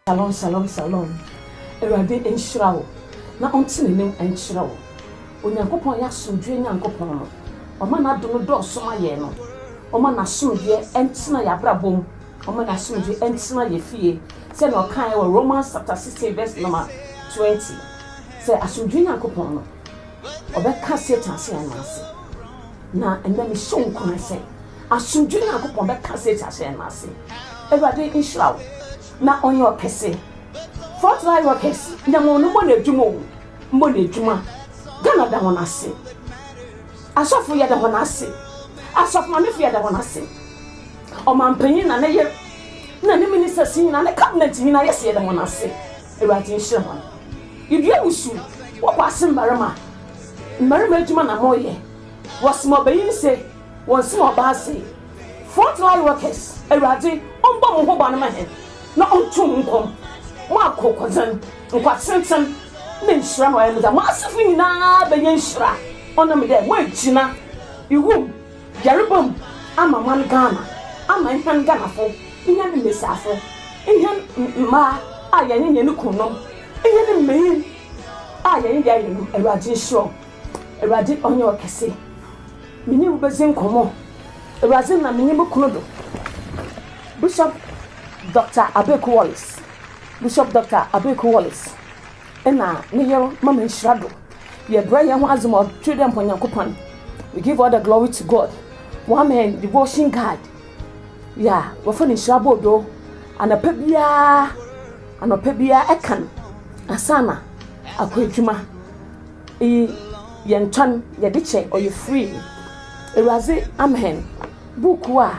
Shalom shalom shalom Awurade nhyira wo na ɔnte ne nim nkyerɛ wo Onyankopɔn yɛ asomdwoeɛ Nyankopɔn no ɔma n'adom no dɔɔso ma yɛn no ɔma n'asomdwoeɛ ntena yɛn abrabɔ mu ɔma n'asomdwoeɛ ntena yɛn fie sɛnea ɔkaeɛ wɔ Romans chapter 16 verse number 20 sɛ asomdwoeɛ Nyankopɔn no ɔbɛka Satan sɛ yɛn nan ase na ɛnnɛ mehyɛ wo nkuran sɛ Asomdwoe Nyankopɔn bɛka Satan ahyɛn no ase. Awurade nhyira wo na ɔnyɛ wo kɛse. Front line workers nyame wɔn mmɔ no adwuma o mmɔ no adwuma Ghana da wɔn ase asɔfo yɛda wɔn ase asɔfo mamefo yɛda wɔn ase ɔmampanyin na ne yere na ne ministers nyinaa ne cabinet nyinaa yɛsɛ yɛda wɔn ase awurade nhyira wɔn yɛdua wusu wɔkɔ ase mmarima mmarima adwuma na moyɛ wɔsoma ɔbɛyin se Wɔn sum ɔbaa se, Front line workers, Awurade ɔmbɔ mo ho ban ma hɛn na ɔnto mo nkɔm. Mo akokodzen, nkwatsentsen, na nhyira na ɔayɛ mo dza. Mo asefo nyina benya nhyira ɔnam dɛ moegyina iwu mu, yarba mu ama man Ghana, ama hɛn Ghanafo, hɛn mbasiafo, hɛn mbaa a yɛnye hɛn kunnom, hɛn mbanyin a yɛnye hɛn yerenom. Awurade nhyira hɔn. Awurade ɔnyɛ ɔkɛse. Me nye wo bedzi nkɔmbɔ. Ewuradze na menye mo kun do. Bishop Doctor Abeku Wallace Bishop Doctor Abeku Wallace na ne yer ma me nhyira do. Yɛbrɛ hɛnho adze ma Ɔtwir dɛ mpo Nyankopɔn. We give all the glory to God. Wɔama hɛn devotion guide yi a wɔfrɛ no Nhyira Bordoo. Anapa biara, anɔpa biara kan ansaana akɔ edwuma. Iyi yɛ ntɔn yɛdze kyɛ ɔyɛ free Ewuradze Amen buukuu a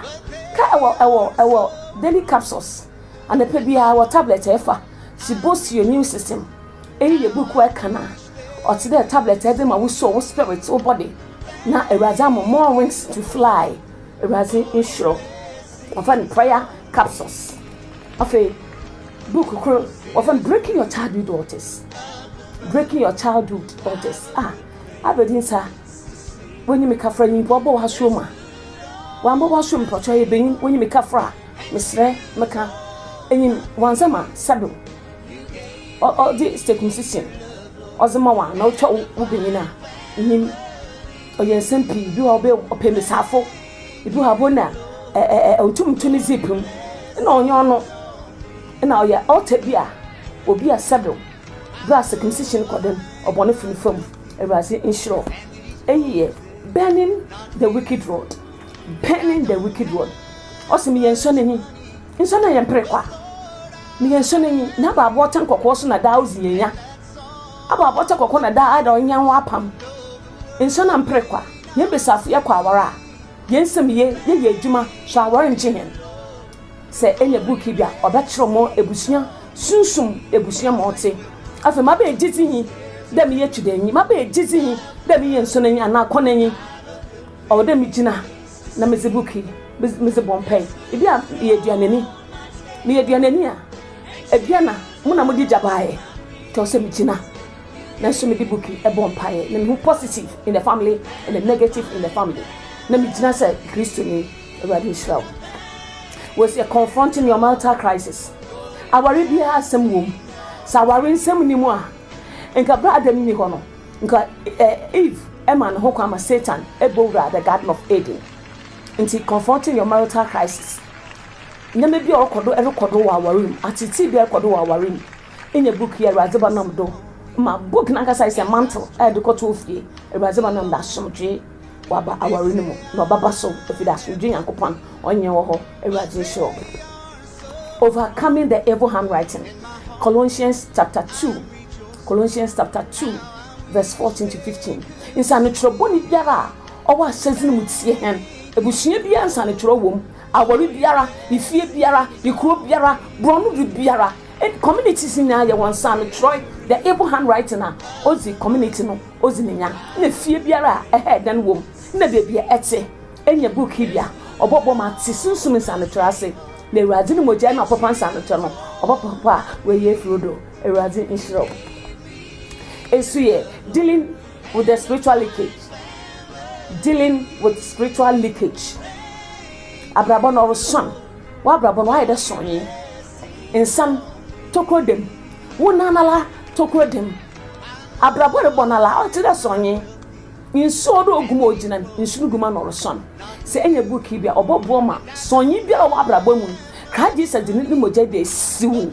ka ɛwɔ ɛwɔ ɛwɔ Daily Capsules anapa biara wɔ tablet a ɛfa To Boost Your Immune System Iyi yɛ buukuu a ɛka na ɔtse dɛ tablet a ɛdze ma wo soul wo spirit wo body na Ewuradze ama more wings to fly Ewuradze nhyira wo wɔfa no prayer capsules. Afei, book koro wɔfrɛ no breaking your childhood altars breaking your childhood altars a abɛdi nsa wɔnyi me kafra nyi mpo abɔ w'asoɔ mu a wɔambɔ w'asoɔ mu pɔtɔ yɛ bɛnyi wɔnyi me kafra a mesrɛ meka enyim wɔnsɛm a sɛdo ɔde circumcision ɔdze ma wɔn a na ɔtwa wo bɛnyin a enyim ɔyɛ nsɛm pii bi wɔ ɔbɛ ɔpɛ mbesiafo. Ibu ha bo na ɛɛ ɔntum nto ne zip mu na ɔnyɛ ɔno na ɔyɛ altar bi a obi a sɛbew berɛ a circumcision kɔ den ɔbɔnefo no fam awurade nhyerɛ eyi yɛ burning the wicked road burning the wicked road ɔsɛ meyɛ nsɔ n'enyi nsɔ na yɛ mpere kwa meyɛ nsɔ n'enyi n'abaaboɔ ɔtɛn kɔkɔɔ so na daa ozi yɛn ya. Aba abɔtɔ kɔkɔ na daa ada ɔnyan ho apam nhyɛ na mpere kwa. Yɛn besiafo yɛ kɔ awar a, yɛn nsɛm ye, yɛyɛ edwuma so awar nnkye hɛn. Sɛ enya book yi bi a, ɔbɛkyerɛw mo ebusua sunsum ebusua ma ɔtse. Afei maba egyedzi nye dɛ meyɛ Twidanyi, maba egyedzi nye dɛ meyɛ Nsonanyi anaa Kɔnanyi. Ɔwɔ dɛ migyina na medze book yi medze bɔ mpae. Bi a meyɛ Eduananyi, meyɛ Eduananyi a, Eduana. Mo na mode gya baeɛ. Nti ɔsɛ megyina na nso mede buki bɔ mpaeɛ na mehu positive in the family and the negative in the family na megyina sɛ Kristoni. Awurade nhyira wo. Wei sɛ confronting your marital crisis. Aware biara asɛm wɔ mu. Sɛ aware nsɛm nni mu a, nka berɛ a Adam nni hɔ no, nka Eve ma ne ho kwan ma Satan bɔ wuraa the garden of Eden. Nti confronting your marital crisis. Ndzɛmba bi a ɔkɔ do rokɔ do wɔ awar mu, atseetsee bi a ɔrokɔ do wɔ awar mu. Nnyɛ book yi a Ewuradze ba nam do ma, book nankasa yɛ sɛ mantle a yɛdze kɔto ofie. Ewuradze ba nam do asomdwee ɔaba awar no mu na ɔbɛba so efi dɛ asomdwee Nyankopɔn ɔnnyɛ wɔ hɔ. Ewuradze nhyira wo. Overcoming the evil handwriting, Colossians chapter two, Colossians chapter two verse fourteen to fifteen, Nsaanokyerɛw bɔne biara a ɔwɔ ahyɛdze no mu tsie hɛn. Ebusua biara nsaanokyerɛw wɔ mu Aware biara, ne fie biara, ne kuro biara, borɔno du biara, ɛne communities nyinaa yɛ wɔn saa no twerɛ the able handwriting a ɔdzi community no ɔdzi ne nya na fie biara a ɛhɛɛ dan wɔ mu na baabi a ɛte nya book yi bi a ɔbɔbɔ ma te sunsum nsaanotwerɛ ase na Awurade ne mogya na ɔpapa nsaanotwerɛ no ɔbɛpapa wɔ yɛ afiri do Awurade nhyira wo nso yɛ dealing With the spiritual leakage dealing with spiritual leakage abrabɔ no ɔresuan w'abrabɔ no ayɛ dɛ sɔnye nsɛm tokuro dɛm wo nan ala tokuro dɛm abrabɔ rebɔ no ala ɔte dɛ sɔnye nsuo do oguma ogyina nsu no guma na ɔresuan sɛ ɛnyɛ book yi bi a ɔbɔboɔ ma sɔnye biara wɔ abrabɔ mu no kra Jesus de ne mogya bi a esiw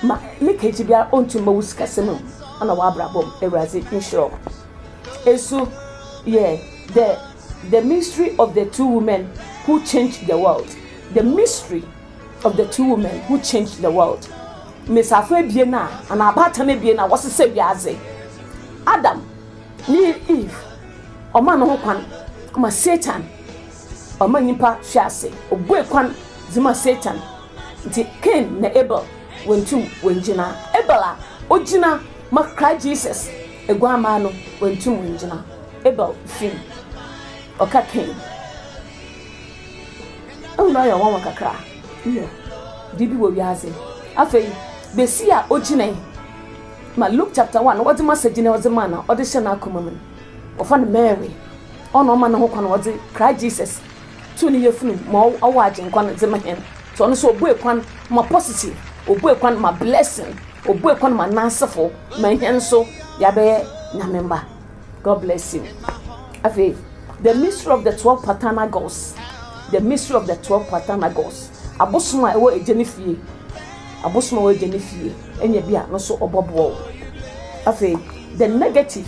Ma ne kɛgye biara onntum mma wo sikasɛm mu na w'abrabɔ mu. Ewuradze nhyira wo. Eso yɛ dɛ The Mystery of the Two Women Who Changed the World, The Mystery of the Two Women Who Changed the World, Mbasiafo ebien a, anaa abaatan ebien a wɔsesɛɛ wiadze. Adam nye Eve, ɔmaa no ho kwan ma Satan ɔmaa nyimpa hwee ase, obuei kwan dze maa Satan. Ntsi Cain na Abel wonntum wonngyina. Abel a ogyina ma Christ Jesus Eguammaa no wonntum wonngyina. Abel fi mu. Ɔka Cain. Ehu no ayɛ nwanwa kakra, nyew, dee bi wɔ wiadze. Afei, Basia a ogyinae ma Luke chapter one, ɔdze ma Segyene ɔdze ma na ɔdze hyɛ n'akoma mu no, wɔfa no Mary. Ɔno na ɔma no ho kwan ɔdze Christ Jesus To ne yafunu ma ɔwɔ Agyenkwa no dze ma hɛn. So ɔno so obuei kwan ma positive? Obuei kwan ma blessing? Obuei kwan ma N'asefo, ma hɛn so yɛabɛyɛ Nyame mba? God bless you. Afei, The Mystery of the Twelve Paternal Gods, The Mystery of the Twelve Paternal Gods, Abosom a Ɛwɔ Egya ne Fie, Abosom a Ɛwɔ Egya ne Fie, enya bi a no so ɔbɔboa wo. Afei, The Negative.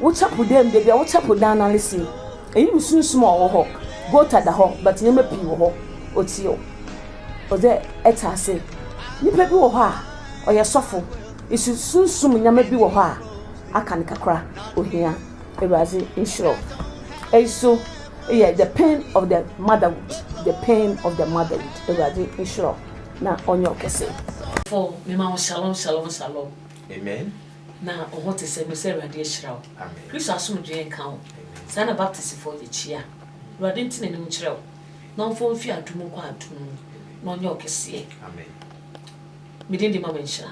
Wo chapel dɛm da bia wo chapel dan na ne se eyi mu sunsum a ɔwɔ hɔ gota da hɔ but nneɛma pii wɔ hɔ otew ɔdɛ ɛte ase nipa bi wɔ hɔ a ɔyɛ sɔfo esu sunsum nneɛma bi wɔ hɔ a aka no kakra ohia awuradze nhyira wo eyi so yɛ the pain of the motherhood the pain of the motherhood awuradze nhyira wo na ɔnyɛ wo kɛse. Fo mema wo shalom shalom shalom. Amen. Na ɔhɔ te sɛ me sɛ awurade ahyira wo kristo asomdwee nka wo saa na baptist foɔ yɛ kyia awurade nte nanim nkyerɛ wo na ɔmfa wo mfiri adom mu kɔ adom mu na ɔnyɛ wo kɛseɛ me din de mama nhyira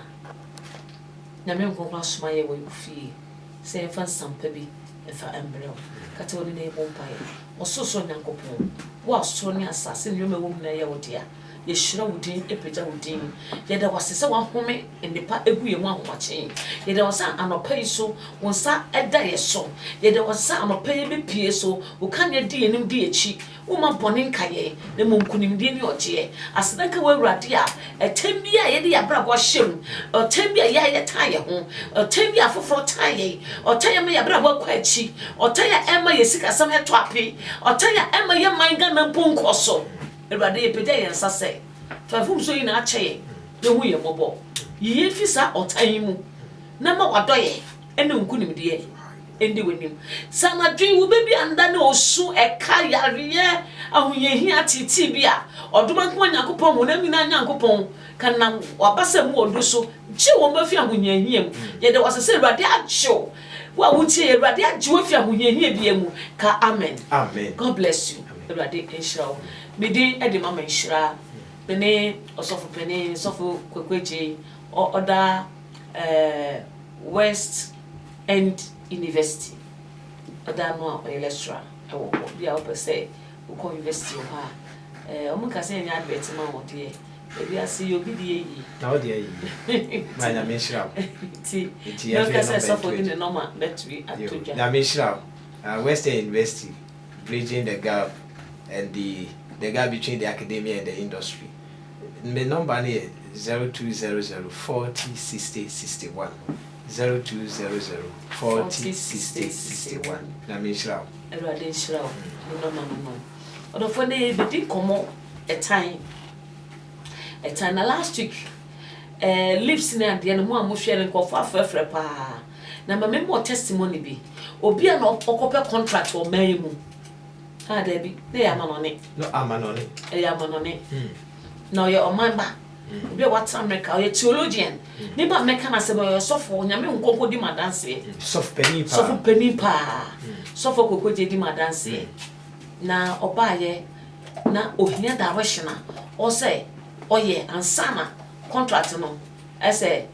nyame nkonkron asoma yɛ wɔ wo fie sɛ yɛmfa nsampa bi mfa mbrɛ wo kata w'ani na yɛbɔ mpaeɛ ɔsorosoro nyankopɔn wo a soro ne asase ne nnoɔma ɛwɔ mu nyinaa yɛ wo dea Yɛhyira wo din, pagya wo din. Yɛda wo ase sɛ woahome nnepa agu yɛn ho ahomakye. Yɛda wo ase sɛ anɔpa yi so wo nsa da yɛn so. Yɛda wo ase sɛ anɔpa yi bepue so wo kanea di yɛn anim di yɛn akyi. Womma bɔne nka yɛn, na mmom nkonimdie ne ɔgyeɛ. Aseda nka wo Awurade a ɛtɛn bi a yɛde yɛn abrabɔ ahyɛ mu, ɔtɛn bi a yɛn a yɛtan yɛn ho, ɔtɛn bi a afoforɔ tan yɛn, ɔtɛn a ɛma yɛn abrabɔ kɔ akyi, ɔtɛn a ɛma yɛn sikasɛm tɔ ape, ɔtɛn a ɛma yɛn man Ghana mpo nkɔ so. Awurade, yɛpagya yɛn nsa sɛ fa mfomsoɔ nyinaa kyɛ yɛn na hu yɛn mmɔbɔ. Yi yɛn fi saa ɔtan yi mu na ma w'adɔeɛ ne wo nkonimdie ndi w'anim. Sɛ anadwo yi wo bɛ bi anda ne osu, ɛka, yareɛ, ahohiahia, ateetee bi a, ɔdom ankoa Nyankopɔn, honam nyinaa Nyankopɔn, ka nam w'abasa mu ɔdɔ so gye wɔn afi ahohiahia mu. Yɛda wo ase sɛ Awurade agye wo, wo a wotie yɛn, Awurade agye wo afi ahohiahia biara mu. Ka Amen. Amen. God bless you. Awurade nhyira wo. Me din de Mama Nhyira. Me ne Ɔsɔfo Panin, Sɔfo Kwaku Agyei, ɔ ɔda eh, West End University, ɔda ano a ɔyɛ lecturer wɔ hɔ. Bia wopɛ sɛ wokɔ university wɔ hɔ a, eh, wɔn nka sɛ yɛnyɛ advert ma wɔn deɛ, baabi ase yɛ obi deɛ yie. Na wo deɛ yie. Ma Nyame nhyira wo. Nti, Nti yɛmfa yɛn nɔmba nto adi. Sɔfo de ne nɔma bɛtumi ato dwa. Nyame nhyira wo. West End University. Bridging the Gap and the the Gap Between the Academia and the Industry. Me nɔmba no yɛ zero two zero zero forty sixty sixty one zero two zero zero forty sixty sixty one. Nyame nhyira wo. Awurade nhyira wo, me nɔma no no. Ɔdɔfoɔ nnɛ yɛrebɛdi nkɔmmɔ ɛtan, ɛtan. Na last week ɛɛ lips ne adeɛ no mo a mohwɛɛ no nkurɔfoɔ afrɛfrɛ paa. Na ma me mɔ testimony bi. Obi a na ɔkɔ pɛ contract wɔ man yi mu. Ah dabi, na ɛyɛ amanɔne. No amanɔne. Ɛyɛ amanɔne. Hmm. Na ɔyɛ ɔman ba. Hmm. Obi a wata America, ɔyɛ theologian. Hmm. Ne ba mɛka na sɛ ɔyɛ ɔsɔfo, onyame nkonko di ma danseɛ. Hmm. Sɔfo panin paa. Sɔfo panin paa. Hmm. Sɔfo kokogye di ma danseɛ. Hmm. Na ɔbaayɛ na ohia direction a ɔsɛ ɔyɛ ansana contract no ɛsɛ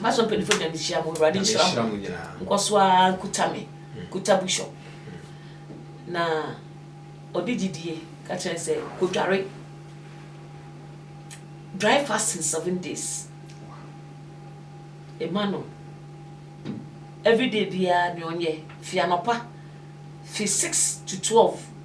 Ma so mpanyinfo nyinaa nhyira mo. Awurade nhyira mo. Nkɔ so ara nkuta me. Hmm. Kuta bishop. Hmm. Na ɔde gyidie ka kyerɛ sɛ kodware. Dry fasting seven days. Ema no. Everyday biara ne ɔnyɛ. Fi anɔpa. Fi six to twelve.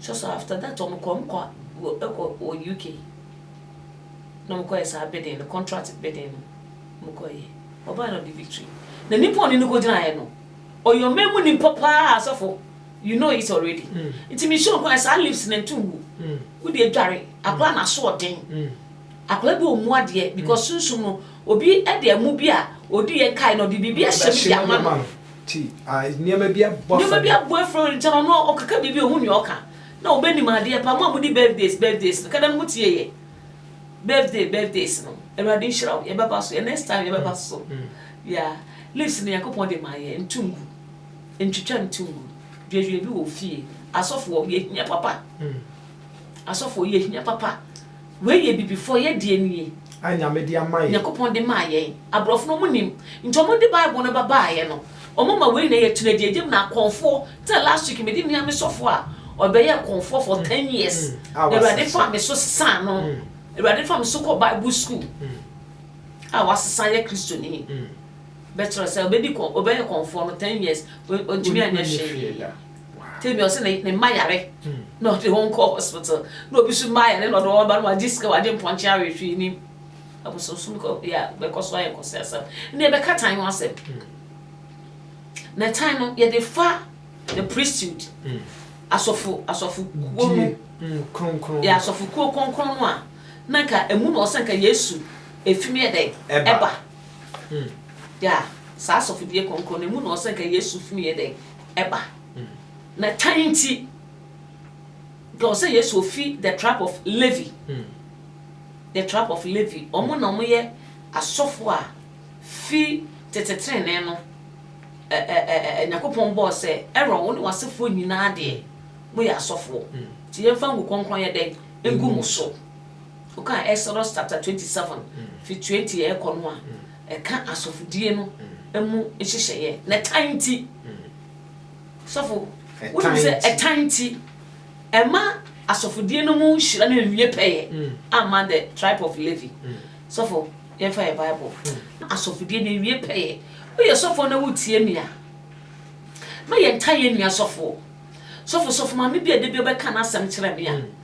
So so after that wɔn kɔ wɔn kɔ ɛkɔ wɔ UK na wɔn kɔ yɛ saa bidding no contract bidding no wɔn kɔ yɛ ɔbaa na ɔde victory na nipa ɔne no kɔ gyina yɛ no ɔyɛ ɔman mu nipa paa asɔfo you know it already nti mi sure kwan saa lips na ntu ngu wodi adware akora na so ɔden akora bi ɔmu adeɛ because sunsun no obi ɛde ɛmu bi a odi yɛ nkae na ɔde biribi ahyɛ mu di ama no. Ti, a nneɛma bi abu afa no. Nneɛma bi abu afa no ntam ano a ɔkeka biribi a ohu nea ɔka na obenim adeɛ paa. Mo a modi birthdays birthdays no, kada no mo tie yɛ birthday birthdays no. Awurade nhyira wo, yɛbɛba so, yɛn next time yɛbɛba so. Yeah, leaves no Nyankopɔn de maa yɛn, ntu ngu, ntwitwa ntu ngu. Duadua bi wɔ wo fie. Asɔfoɔ, yɛhia papa. Asɔfoɔ, yɛhia papa. Wei yɛ abibifoɔ yɛ deɛ nie. A nyame de ama yɛn. Nyankopɔn de maa yɛn. Abrɔfo no ɔmo nim. Nti ɔmo de bible no ba baayɛ no ɔmo ma wei na yɛ tena gye gyem na kɔnfoɔ tena last week me de nua me sɔfoɔ a ɔbɛyɛɛ kɔnfoɔ for ten years na awurade faa me so sesaa no awurade faa me so kɔ bible school a wasesa yɛ kristo ni bɛkyerɛ sɛ ɔbɛdi kɔn ɔbɛyɛ kɔnfoɔ no ten years ɔntumi anyɛ hwee. Tell me ɔse ne ne mma yare na ɔde wɔn kɔ hospital na obi so mma yare na ɔde wɔn aba no wagye sika wagye mpɔnkye awe hwee nim abosonsom kɔ yɛ a bɛkɔ so ayɛ nkɔsɛ asɛm ne ɛbɛka tan ho asɛm na tan no yɛde fa the priesthood asɔfo asɔfo kuo no kronkron yɛ asɔfo kuo kronkron no a na nka emu na ɔsɛ nka yesu efim yɛ dɛ ɛba yɛ a saa asɔfo die kronkron no emu na ɔsɛ nka yesu fim yɛ dɛ ɛba. Na tan nti, nka ɔsɛ Yesu ofi the trap of Levi, the trap of Levi, wɔn na wɔyɛ asɔfo a fi tete trenee no, ɛ ɛ ɛ ɛ Nyankopɔn bɔɔ sɛ Aaron wo ne w'asefoɔ nyinaa deɛ moyɛ asɔfoɔ, nti yɛmfa ngu kronkron yɛ dɛn ngu mo so. Woka Exodus chapter twenty seven fi twenty ɛkɔ no a. ɛka asɔfodie no mu nhyehyɛeɛ na ɛtan nti sɔfo wonim sɛ ɛtan nti ɛma asɔfodie no mu nhyira no nwie pɛyɛ mm. ama the tribe of Levi mm. sɔfo yɛmfa yɛ bible mm. asɔfodie no nwie pɛyɛ woyɛ sɔfo na wotie me a ma yɛntan yɛ nua sɔfo sɔfo sɔfo maame bi a ɛde bi ɔbɛka n'asɛm kyerɛ me a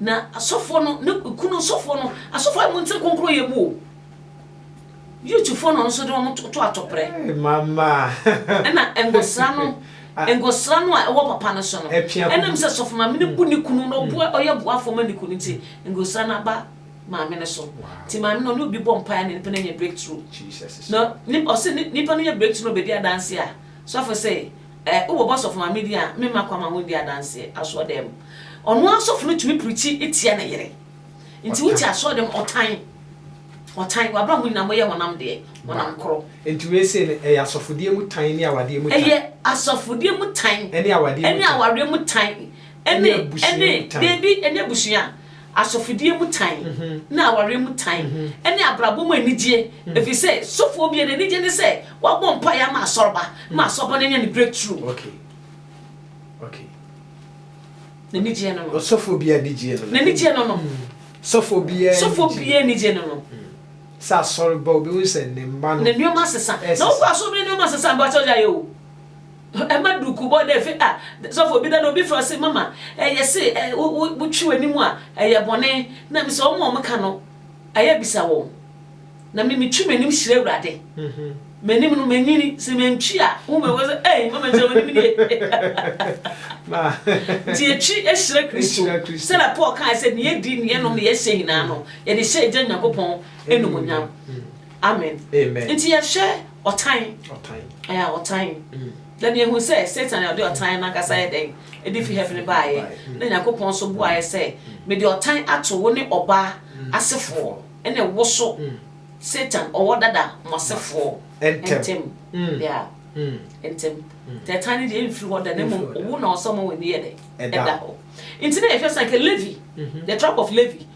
Na asɔfoɔ no, ne kunu sɔfoɔ no, asɔfoɔ a monte nkonkron yɛ mu o. Youthfoɔ na ɔno nso de wɔn to to atɔprɛ. Hey, mama. Ɛna ngosra no, ah. ngosra no a ɛwɔ papa no so no. Ɛnam sɛ sɔfo maame no bu ne kunu na ɔboa mm. ɔyɛ boafo ma ne kunu nti mm. ngosra no aba maame no so. Ti maame no ne obi bɔ mpaeɛ na nipa no nya breakthrough. Jesus. Na ɔsɛ nipa no nya breakthrough na ɔbɛdi adanse a sɔfo sɛ Eh, wo bɔbɔ sɔfo maame din a me mma kwan ma wonndi adanse asɔɔdɛm mu. Ɔno ara sɔfo no tumi prikyi tia ne yere. Nti wote asɔɔdɛm mu ɔtan, ɔtan, w'abrɛ ho nyinaa moyɛ honam deɛ, honam koro. Nti wei sei no ɛyɛ asɔfodeɛ mu tan ne awadeɛ mu tan? Ɛyɛ asɔfodeɛ mu tan. Ɛne awadeɛ mu tan. Ɛne awareɛ mu tan. Ɛne abusua mu tan. Ɛne, daabi, ɛne abusua. asɔfodie mu tan, ne awareɛ mu tan, ne abrabɔ mu anigyeɛ, ɛfiri sɛ sɔfoɔ biara n'anigyeɛ ne sɛ wabɔ mpaeɛ ama asɔreba ma asɔreba no anya ne breakthrough. Okay. Okay. N'anigyeɛ no no. Sɔfoɔ biara anigyeɛ no no. N'anigyeɛ no no. Sɔfoɔ biara anigyeɛ. Sɔfoɔ biara anigyeɛ no no. Sɛ asɔreba obi hu sɛ ne mma no. Ne nneɛma asesa. Na wokɔ asɔreba nneɛma asesa mpa kyɛw gyaeɛ o. Ɛma duku bɔ dɛ efi ah sɔfo obi da na obi frɛ se mama eh yɛse eh wo wo wo twi w'anim a ɛyɛ bɔne na me sɛ wɔn a wɔn ka no ayɛ bisa wɔn na me me twi m'anim hyira awurade m'anim no manyini sɛ mantwi a wo mɛ wɔ sɛ eh mama nhyira w'anim nie nti yɛtwi ahyira kristo sɛ na Paul kaa sɛ ne yɛdi ne yɛnom ne yɛhyɛ nyinaa no yɛde hyɛ agya nyankopɔn animonyam Amen. Amen. Nti yɛhwɛ ɔtan. Ɔtan. Ɛyɛ ɔtan. Mm. Na deɛ ehu sɛ Satan na ɔde ɔtan no ankasa yɛ dɛn? Ɛde fi heaven baeɛ. Mm. Na Nyankopɔn nso buaeɛ sɛ, mm. mede ɔtan ato wo ne ɔbaa mm. asefoɔ ɛne wo so. Mm. Satan ɔwɔ dada mo asefoɔ ntɛm. Mm. Yeah. Mm. Ntɛm. Mm. Tɛ tan no deɛ ɛmfiri hɔ da na mmom owu na ɔsɛ ɔma wɔn ani yɛ dɛ ɛda hɔ. Nti na yɛhwɛ sɛ anka Levi, mm-hmm. the tribe of Levi,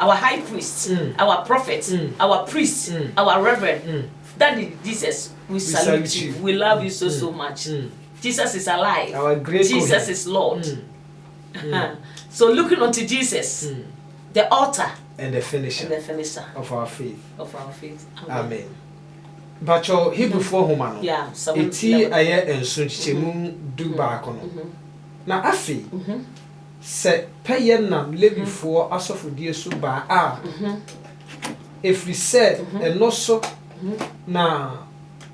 Our high priest, our prophet, our priest, our reverend daddy Jesus we salute you we love you so so much Jesus is alive Jesus is Lord so looking unto Jesus the author and the finisher, and the finisher of our faith of our faith amen, amen. Bàtchọ Hebrifoɔ nhoma no eti ayɛ nso nkyekyɛmu du baako no na afei. Sɛ pɛyɛ nam Lewifoɔ asɔfodie so ba a, ɛfiri sɛ ɛno so na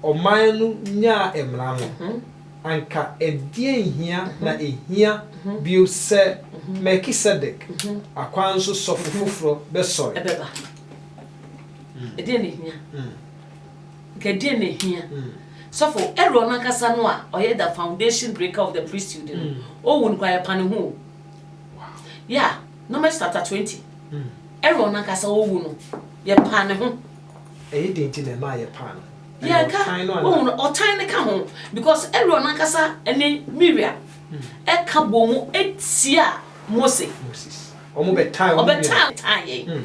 ɔman no nyaa mmara no, anka ɛdeɛn hia na ɛhia bio sɛ Melkisedek akwan so sɔfo foforɔ bɛsɔre? Ɛbɛba. Ɛdeɛn na ɛhia? Nka deɛn na ɛhia sɔfo ɛwere ɔno ankasa no a ɔyɛ the foundation breaker of the priesthood no ɔwu no koraa yɛpa ne ho o ya Numbers chapter 20 ɛwere ɔno ankasa ɔwu no yɛpa ne ho ɛyɛ deɛ nti na ɛma yɛpa no yɛka ɔhu no ɔtan no ka ho because ɛwere ɔno ankasa ne Miriam ɛka bɔ mu ɛtia Mose ɔbɛtan yɛn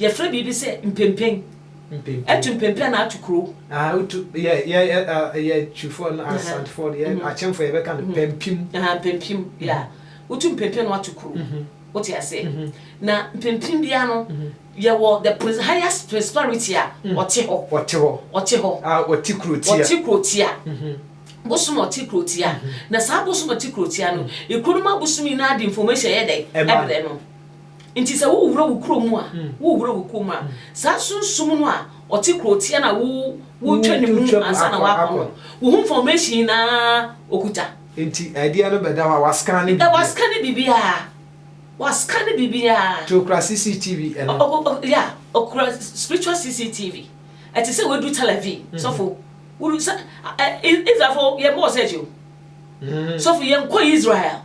Yɛfrɛ biribi sɛ mpempen. Ɛtu mpempen anaa ɛtu kuro. Yɛ Twifoɔ no, Asantfoɔ no, yɛ Akyemfoɔ yɛbɛka no pampim. Pampim, ya. Wotu mpempen na watu kuro. Wote aseɛ? Na mpempen biara no, yɛwɔ the highest principality a ɔte hɔ. Ɔte hɔ. Ɔte hɔ. Ɔte kuro tia. Ɔte kuro tia. Bosom ɔte kuro tia. Na saa bosom ɔte kuro tia no, ekuro no mu abosom nyinaa de information yɛ dɛn? Ɛbrɛ no. Nti sɛ worewura wo kurom mu a, worewura wo kurom a, saa sunsum no a ɔte kurotia no a wo, woretwa ne mu ansa na woakɔ no, wo ho nfɔmehyin nyinaa ɔkuta. Nti ɛdeɛ no bɛda hɔ a, wascane biribiara. Ɛ, wascane biribiara. Wascane biribiara. Nti ɔkura CCTV ɛno. Ɔ, ɔ, ɔ, ya, ɔkura spiritual CCTV. Ɛte sɛ woadu Tel Aviv, sɔfo. Wodu sɛ, ɛ, Israelfoɔ, yɛmmɔɔ search o. Sɔfo, yɛnkɔɔ Israel.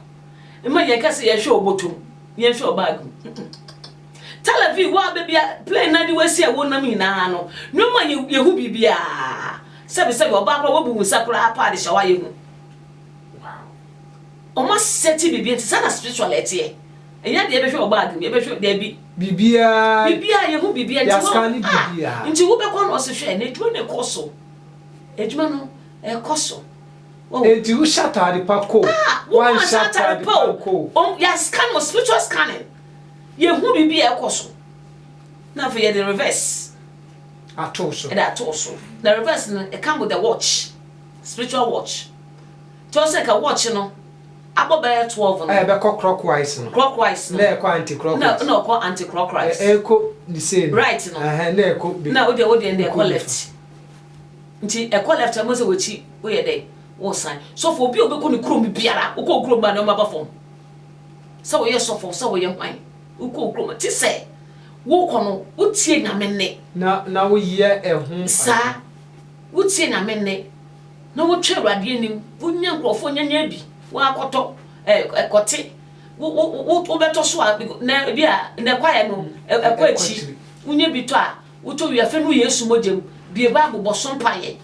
Mma yɛnka sɛ yɛhwɛ ɔbɔtom. Yɛn nso ɔbaa gu. Tel Aviv wo a baabi a plane no adi wasi a wonam nyinaa no, ne ma yehu biribiara. Sɛbesɛbe, ɔbaa koraa wabu wo nsa koraa paa de hyɛw a yehu. Wow! Wɔasɛte biribi nti saa na spiritual ɛteɛ. Ɛnyɛ deɛ yɛbɛhwɛ wɔ bag mu, yɛbɛhwɛ daabi. Biribiara. Biribiara yehu biribiara nti wɔn. Yɛascane biribiara. Nti wobɛkɔ na ɔse hwɛ n'adwuma no rekɔ so. Adwuma no ɛrekɔ so. Oh. Enti wo hyɛ ataade pa ko. Ah, wo ma nhyɛ ataade pa nko. Om, yɛ scan wɔ spiritual scanning. Yɛ hu bibi a ɛkɔ so. Na afei yɛ de reverse. Ato so. Ɛde ato so. Na reverse no, it come with the watch. Spiritual watch. Tí wọ́n sẹ́ ka watch no, abọ́ bẹ́ẹ̀ twelve no. Ẹ bẹ kọ clockwise no. Clockwise no. Na ẹ kọ anti-clockwise. Na ẹ kọ anti-clockwise. Ẹ kọ the same. Right no. Na ẹ kọ. Na o de o de ẹ kọ left. Nti ɛkɔ left a ɛbɛhu sɛ wakyi woyɛ dɛn woresan. Sɔfo obi a ɔbɛkɔ ne kurom biara wokɔ wo kurom a nneɛma ba fam sɛ woyɛ sɔfo sɛ woyɛ hwan wokɔ wo kurom a te sɛ wokɔ no wotie Nyame nne Na na woyɛ ɛho saa adwene. wotie Nyame nne na wotwɛn Awurade anim wonya nkurɔfoɔ nya nya bi woakɔtɔ ɛɛ kɔte wo wo wo wobɛtɔ so a na ebia na ɛkwaeɛ no ɛkɔ akyiri wonya bi tɔ a. Wotɔ wia fɛ no Yesu mogya mu, bue Bible bɔ so mpaeɛ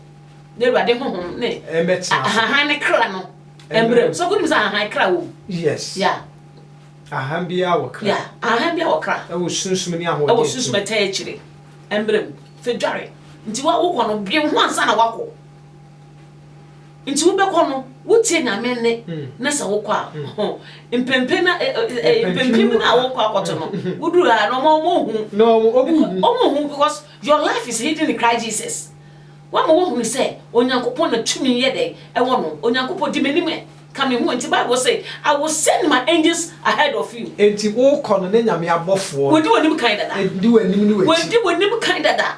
na Awurade honhom ne ahahan ne kra no mmra mu. Sɛ wonim sɛ ahahan kra wɔ mu? Yes. Yeah. Ahahan biara wɔ kra. Yeah. Ahahan biara wɔ kra. Ɛwɔ sunsum ne ahoɔden. Ɛwɔ sunsum ɛtaa akyire. Mmra mu. Fɛ dware. Nti wa wokɔ no dwen ho ansa na wakɔ. Nti wobɛkɔ no, wotie Nyame nne na sɛ wokɔ a, mpempe na mpempem na wokɔ akɔto no, woduru ha na ɔma ɔmo hu. Na ɔmo ɔmo hu. Ɔmo hu because your life is hidden in Christ Jesus. Wama wahunu sɛ Onyankopɔn na tumi yɛ dɛn ɛwɔ no. Onyankopɔn di m'anim ɛ, ka me ho. Nti Bible se I will send my angels ahead of you. Nti wokɔ no ne Nyame abɔfoɔ. Wodi w'anim kan dada. Di w'anim ne w'akyi. Wodi w'anim kan dada.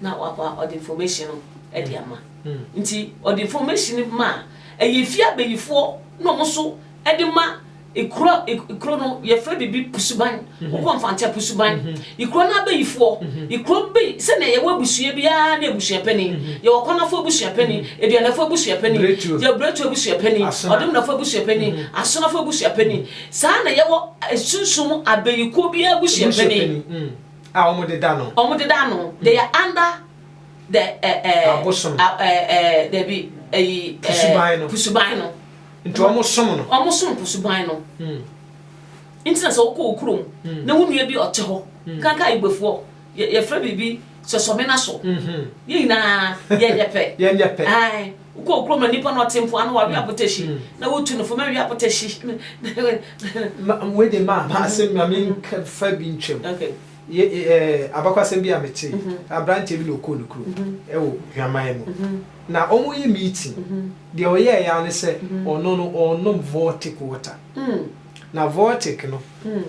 na waba ɔde information no de ama nti ɔde information no ma ɛyɛ efie abayifoɔ na wɔn nso de ma ekuro ekuro no yɛfrɛ biribi pusuban mhm. wokɔ mfantɛ pusuban mhm. ekuro no abayifoɔ mhm. ekuro bi sɛnea yɛwɔ abusua biara ne abusua panin yɛwɔ kɔnafo abusua panin aduanafo abusua panin yɛ bretu abusua panin ɔdomnafo abusua panin asonafo abusua panin saa na yɛwɔ esunsum abayikuo biara abusua panin. A wɔde da no. Wɔde da no. They are under the eh, eh, Abosom. a- eh, eh, dabi, ayi, eh, Pusuban no. Pusuban no. Nti wɔsom no. Wɔsom pusuban no. Nti na sɛ wokɔ wo kurom na wo nua bi ɔte hɔ, nkanka Igbofoɔ, yɛ- yɛfrɛ biribi sɔsɔmena so. Yɛn nyinaa yɛnyɛ pɛ. Yɛnyɛ pɛ. Ae. Wokɔ kurom na nipa na ɔte mpoano wawe abotahyi na wotu no fam awie abotahyi. Wei de ma ma asɛm ma me nka fa bi ntwam. Abakwasɛm bi a mete aberanteɛ bi na ɔkɔɔ ne kurom wɔ hwaman mu na wɔyɛ meeting deɛ ɔyɛɛ ya ne sɛ ɔno no ɔnom vortic water na vortic no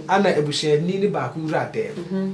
ana abusuani no baako wura dɛm.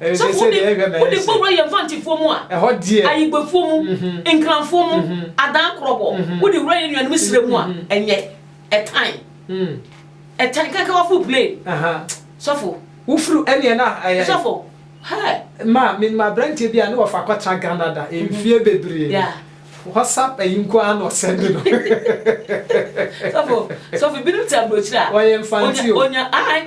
Sɛ wode wode kɔwura yɛn Mfantefoɔ mu a, Ayigbefoɔ mu, Nkranfoɔ mu, Adan Krɔbɔ, wode wura yɛn nuanom serɛ mu a, ɛnyɛ, ɛtan, ɛtan kankan waforo plane. Sɔfo. Wofiri ɛneɛ na ɛyɛ. Sɔfo. Hɛ. Ma menim abranteɛ bi a ne wɔfa kɔtra Ghana da mfie bebree. Yeah. WhatsApp ayi nko ara na ɔsɛnde no. Sɔfo, sɔfo binom te aburokyire a. Ɔyɛ Mfante o. Onya, onya, ae.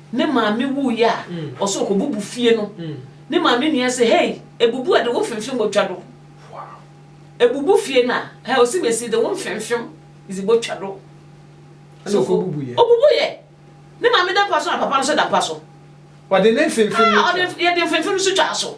Ne maame wuiɛ a, ɔsɛ ɔkɔbubu fie no. Ne maame nua se, Hei, ebubu a de wo mfemfem botwa do. Ebubu fie no a, hɛ, ɔse mesi de wo mfemfem dze botwa do. Ɛna So ɔkɔbubuiɛ. ɔbubuiɛ? Ne maame da mpa so na papa no nso da mpa so. Ɔde ne mfemfem no Ah, ɔde twa. mf, yɛde mfemfem nso twaa so.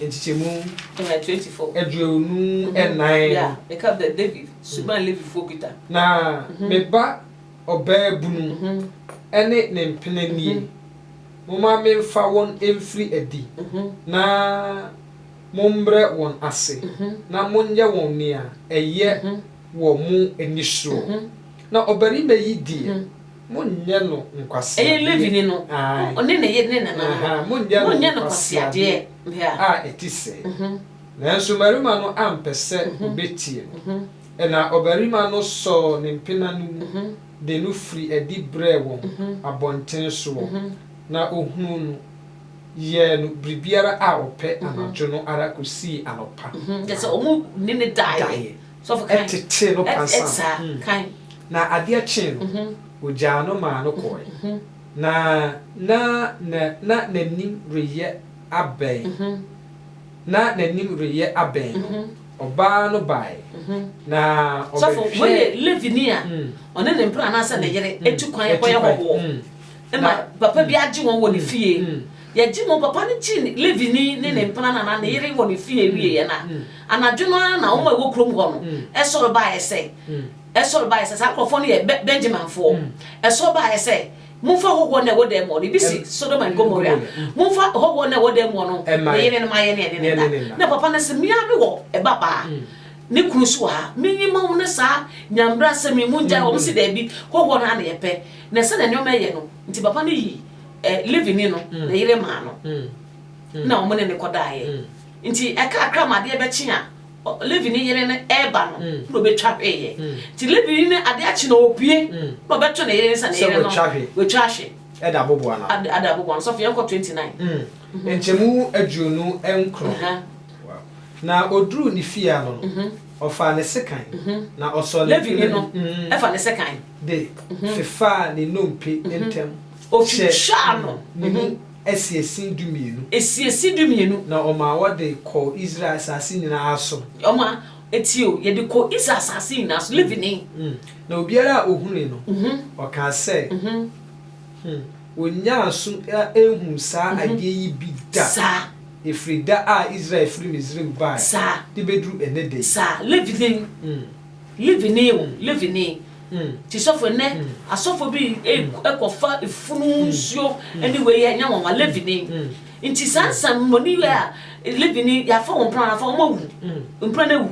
nkyekyɛmu aduonu nnan no. Na me ba ɔbaabunu ne ne mpena nie, momma memfa wɔn mfiri adi na mommrɛ wɔn ase na monyɛ wɔn nea ɛyɛ wɔ mo ani soɔ. Na ɔbarima yi deɛ. Monnyɛ no nkwaseadeɛ. Ɛyɛ Levini no, ɔne ne yere ne nananom. Monnyɛ no nkwaseadeɛ a ɛte sɛɛ. Nanso mmarima no ampɛ sɛ wɔbɛtie no. Ɛnna ɔbarima no sɔɔ ne mpena no mu de no firii adi brɛɛ wɔn abɔntene soɔ, na ɔhunuu no, yɛɛ no biribiara a ɔpɛ anadwo no ara kɔsii anɔpa, na daeɛ. tetee no pansam. Na adeɛ kyee no, wɔgyaa no maa no kɔɔe, na na na n'anim reyɛ abɛn. Na n'anim reyɛ abɛn no, ɔbaa no baae, na ɔbɛhwɛɛ. Yɛgye mu, papa no gyee Levini ne ne mpena no anaa ne yere wɔ ne fie wieeɛ no a, anadwo no ara na wɔn a wɔwɔ kurom hɔ no sɔre baeɛ sɛ, sɔre baeɛ sɛ, saa nkurɔfoɔ no yɛ Bɛ, Benyaminfoɔ, sɔre baeɛ sɛ, Momfa hɔhoɔ no a ɛwɔ dan mu hɔ no, ebi se, Sodom and Gomorrah, momfa hɔhoɔ no a ɛwɔ dan mu hɔ no, ne yere no mma yɛne yɛne no nna. Na papa no se, Me ara mewɔ babaa, ne kunu nso wɔ ha, menyi mma wɔn ne saa nyambrasɛm yi, mongyae wɔn. Wɔse, Daabi, hɔhoɔ no ara na yɛpɛ. Na sɛdeɛ nneɛma reyɛ no nti, papa no yii. Levini no, ne yere maa no, na wɔn ne no kɔdaeɛ. Nti ɛkakra ma adeɛ bɛkye a Levini yere no reba no, na ɔbɛtwa hweeɛ. Nti Levini no adeɛ akye na ɔpue, na ɔbɛto ne yere nsa, ne yere no, watwa hwe. Ɛda aboboa no ano. Ɛda aboboa no ano. Sɔfo yɛn kɔ twenty nine. Nkyɛmu aduonu nkron. Na ɔduruu ne fie ano no, ɔfaa ne sekan, na ɔsɔɔ ne yere no. Levini no fa ne sekan. de fefaa ne nnompe ntam hyɛɛ no ne mu asiesin dumienu. Asiesin dumienu. Na ɔmaa wɔde kɔɔ Israel asase nyinaa so. Ɔmaa, tie o, yɛde kɔɔ Israel asase nyinaa so, Levi ni. Na obiara a ɔhunui no, ɔkaa sɛ, Hu, wɔnnyaa so nhuu saa adeɛ yi bi da, ɛfiri da a Israel firi Misraim baeɛ de bɛduru ɛnnɛ da yi. Saa, Levi ni. Levini o, Levini o. Nti sɔfo, nnɛ asɔfo bi kɔfa funu nsuo ne wei yɛ nwanwa, Levini. Nti saa nsɛmmɔne wei a, Levini, yɛafa wɔn mpena no afa, wɔawu, mpena no awu.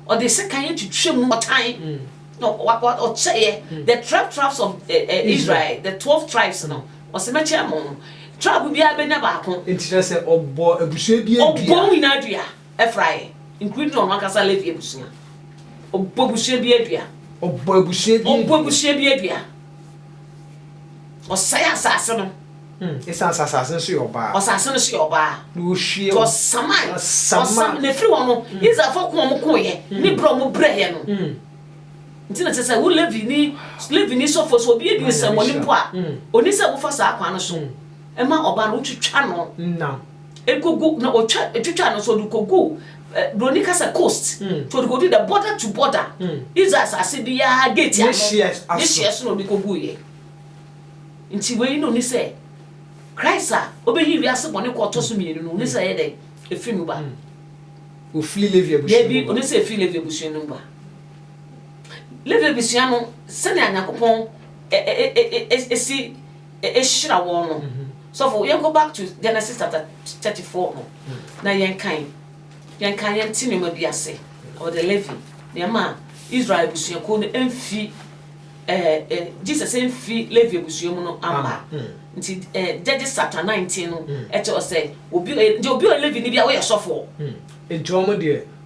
Ɔde sekan atwitwa mu, ɔtan, na ɔkyɛeɛ, the twelve tribes of Israel, the twelve tribes no, ɔse mɛkyɛ mo, tribe biara bɛnya baako. Nti na sɛ ɔbɔ abusua biara dua. Ɔbɔ wɔn nyinaa dua. Efrae, including ɔno ankasa Levi abusua. Ɔbɔ abusua bi adua. Ɔbɔ abusua bi adua. Ɔbɔ abusua bi adua. Ɔsɛe asase no. Ɛsan hmm, sɛ asase no so yɛ ɔbaa. Ɔsase no so yɛ ɔbaa. Na ɔhwie wɔn. Ɔsaman. Ɔsaman. Na ɛfiri hɔ no, hmm. Israelfoɔ ko wɔn ko yɛ. Hmm. Ne berɛ wɔn brɛ yɛ no. Nti na kyerɛ sɛ wo Levi ni Levi ni sɔfoɔ so obi adi nsɛmmɔne mpo a, ɔni sɛ wofa saa kwan no so. Ɛma ɔbaa no wotwitwa no. Nam. Ekogu na otwa etwitwa no so ɔde kogu eh, broni ka sɛ coast nti ɔde kodu the border to border Israel asase biara gate Ne ano hyeɛ ne aso. hyeɛ so na ɔde koguiɛ nti wei na ɔni sɛ Christ a ɔbɛyi wiase bɔne kɔ ɔtɔ so mmienu no ɔni sɛ ɛyɛ dɛn ɛfiri mu ba Ɔfiri Levi abusua daabi mu ba. ɔni sɛ ɛfiri Levi abusua no mu ba Levi abusua no sɛnea Nyankopɔn ɛ ɛ ɛ ɛ ɛ esi ɛhyira wɔn no sɔfo yɛn kɔ back to Genesis chapter thirty four no na yɛn kan yɛn kan yɛn ti nneɛma bi ase about the living nneɛma a Israel abusuakuo no mfi ɛɛ ɛ Jesus mfi Levi abusua mu no ama nti ɛɛ Judges chapter nineteen no ɛkyɛ ɔsɛ obi ɛ nti obi ɔ Levi ni bi a woyɛ sɔfo. Nti wɔn deɛ.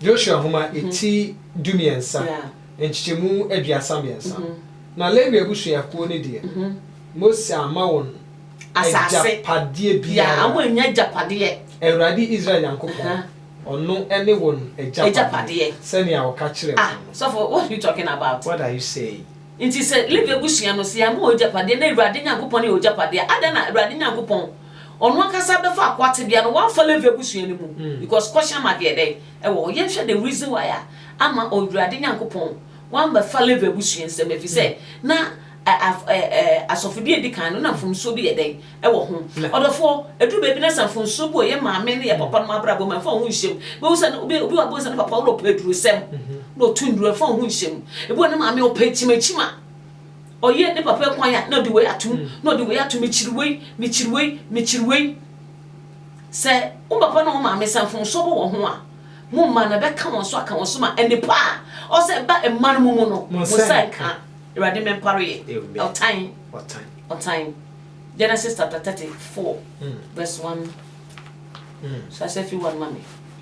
Joshua Nhoma ti dumiɛnsa, nkyekyɛmu aduasa mmiɛnsa. Na Lewi abusuakuo no deɛ, Mose amma wɔn agyapadeɛ biara. Awurade Israel Nyankopɔn, ɔno ne wɔn agyapadeɛ, sɛnea ɔka kyerɛɛ wɔn no. Sɔfo, what are you talking about? What are you saying? Nti sɛ Lewi abusua no, sɛ yɛamma wɔn agyapadeɛ, na Awurade Nyankopɔn ne yɛn agyapadeɛ a, adɛn na Awurade Nyankopɔn Ɔno ankasa bɛfa akoa tebea no wamfa Levi abusua no mu because kɔhyɛ ma deɛ dɛn ɛwɔ hɔ. Yɛnhwɛ the reason why a ama Ɔwurade Nyankopɔn wammɛfa Levi abusua nsam ɛfiri sɛ na asɔfodie a ɛdi kan no na mfomsoɔ bi yɛ dɛn ɛwɔ ho. Ɔdɔfoɔ, ɛduru baabi na sɛ mfomsoɔ bi wɔ yɛn maame ne yɛn papa nom abrabɔ mu a ɛmfa wo ho nhyɛ mu. Wobɛhu sɛ obi wɔ hɔ a wobɛhu sɛ ne papa ɔrepɛ adurusɛm na ɔtu nnuru ɛmfa wo ho nhyɛ mu. Ebi wɔ hɔ a ne maame ɔpɛ kyimakyima. Ɔyɛ ne papa kwan a na ɔde wei ato mu, na ɔde wei ato mu, mekyiri wei, mekyiri wei, mekyiri wei. Sɛ wo papa ne wo maame sɛ mfomsoɔ bɔ wɔn ho a, mo mma no ɛbɛka wɔn so aka wɔn so ma nnepa a ɔwɔ sɛ ɛba mma no mu mu no, mo nsa nka. Awurade mmɛmpare yɛn ɔtan, ɔtan. Genesis chapter thirty four verse one. Hyɛ aseɛ firi one ma me.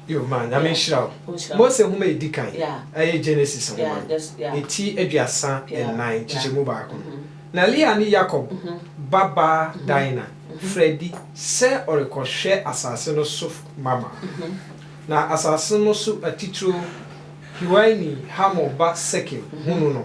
Yo ma Nyame nhyira wo. Mose nwoma a ɛdi kan yɛ Genesis nwoma no, ne ti aduasa nnan nkyekyɛmu baako no. Na Lea ne Yakob ba baa Dina frɛ adi sɛ ɔrekɔhwɛ asase no so mama. Na asase no so atitiriw Hiwini Hamor ba Sekem hunu no.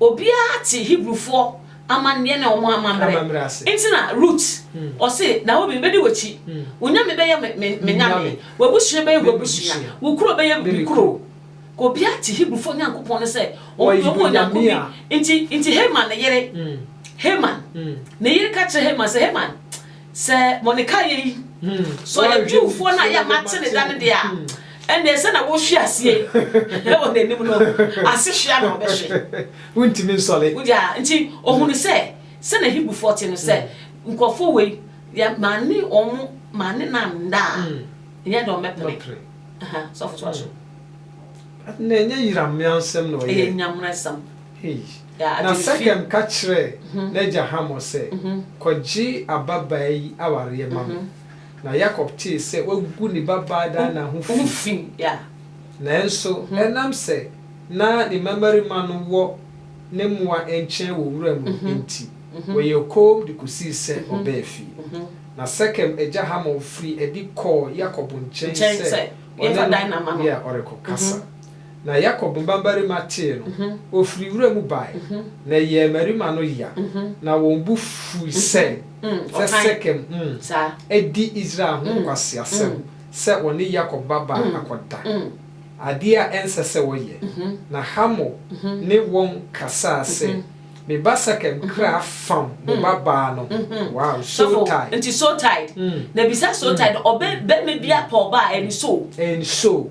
Obiara te Hebrifoɔ amanneɛ ne wɔn amammerɛ. Enti na Rut, ɔse, Naomi, mɛdi w'akyi. Wo nyame bɛyɛ me, me, me nyame. W'abusua bɛyɛ w'abusua. Wo kuro bɛyɛ me kuro. Obiara te Hebrifoɔ Nyankopɔn no sɛ wɔn deɛ wɔwɔ Nyanko bi. Enti, enti Haman ne yere, Haman, ne yere ka kyerɛ Haman sɛ, Haman, Sɛ Mordekai yɛ yi, sɛ ɔyɛ Jewfoɔ no a yɛ a mate ne da no deɛ a, ɛnneɛ sɛdeɛ wɔhwe aseɛ yi wɔ n'anim no, asehweɛ na ɔbɛhwe. Wontumi nsɔre. Wode a? Nti ɔhunuu sɛ, sɛdeɛ Hebrifoɔ te no, sɛ nkurɔfoɔ wei, deɛ mane wɔn mane no anna a, ɛnyɛ deɛ wɔbɛpere. Aha, sɔfo toa so. Na ɛnyɛ Yerahmealsɛm na ɔyɛɛ? Ɛyɛ Nyamealsɛm. Hei. Na Sekem ka kyerɛɛ n'agya Hamor sɛ, Kɔgye ababaa yi awareɛ ma me. Na Yakob tee sɛ wagu ne babaa Dina ho fi, nanso ɛnam sɛ na ne mmammarima no wɔ ne mmoa nkyɛn wɔ wuram no enti, wɔyɛɛ komm de kɔsii sɛ ɔbaa fie. Na Sekem agya Hamor firii adi kɔɔ Yakob nkyɛn sɛ ɔne no ɔrekɔkasa. Na Yakob mbambarima tsee no, wofir nwura mu bae, na ɛyɛɛ mmarima no ya, na wɔn bo fui sɛ, sɛ Sekem ho adi Israel ho nkwaseasɛm sɛ wɔne Yakob babaa akɔda, adeɛ a ɛnsɛ sɛ wɔyɛ. Na Hamor ne wɔn kasaa sɛ, Me ba Sekem kra fam mo babaa no ho. Wow! Sotai. Nti Sotai, na bisa Sotai dɛ ɔbɛ bɛma bi apɔ ɔbaa, ɛn so? Ɛn so,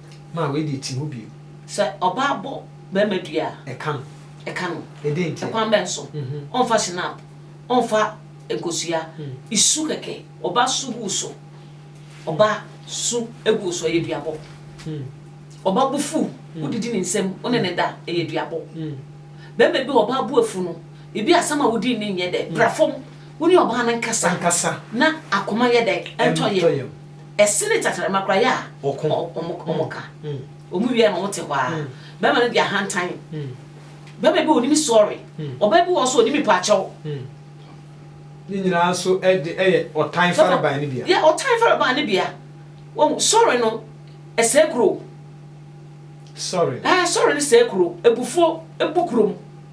Ma wei deɛ ti hɔ bio. Sɛ ɔbaa bɔ barima dua a. Ɛka no. Ɛka no. Ɛdɛn ntia? Ɛkwan bɛn so? Ɔnfa shinap, ɔnfa nkosua, su kɛkɛ, ɔbaa su gu wo so, ɔbaa su gu wo so, ɛyɛ duabɔ. Ɔbaa bo fu, wodidi ne nsam, wo ne no da, ɛyɛ duabɔ. Barima bi a ɔbaa bo afu no, ebi asɛm a wodi ne nyɛ dɛ, bra fam, wo ne ɔbaa no nkasa na akoma nyɛ dɛ, ɛntɔ yam. Ɛsene tɛkyerɛma koraa yɛ a ɔko wɔn ka. Wɔn wie a na wɔte hɔ ara. Bɛrima no de ahantan. Bɛrima bi wɔ onim sɔre. Ɔbaa bi wɔ hɔ nso onim mpakyɛw. Ne nyinaa nso de ɛyɛ ɔtan farebae no bia. Yɛ ɔtan farebae no bia. Wɔn sɔre no ɛsɛe kuro. Sɔre. Ɛɛ sɔre no sɛe kuro. Abufuo bu kurom.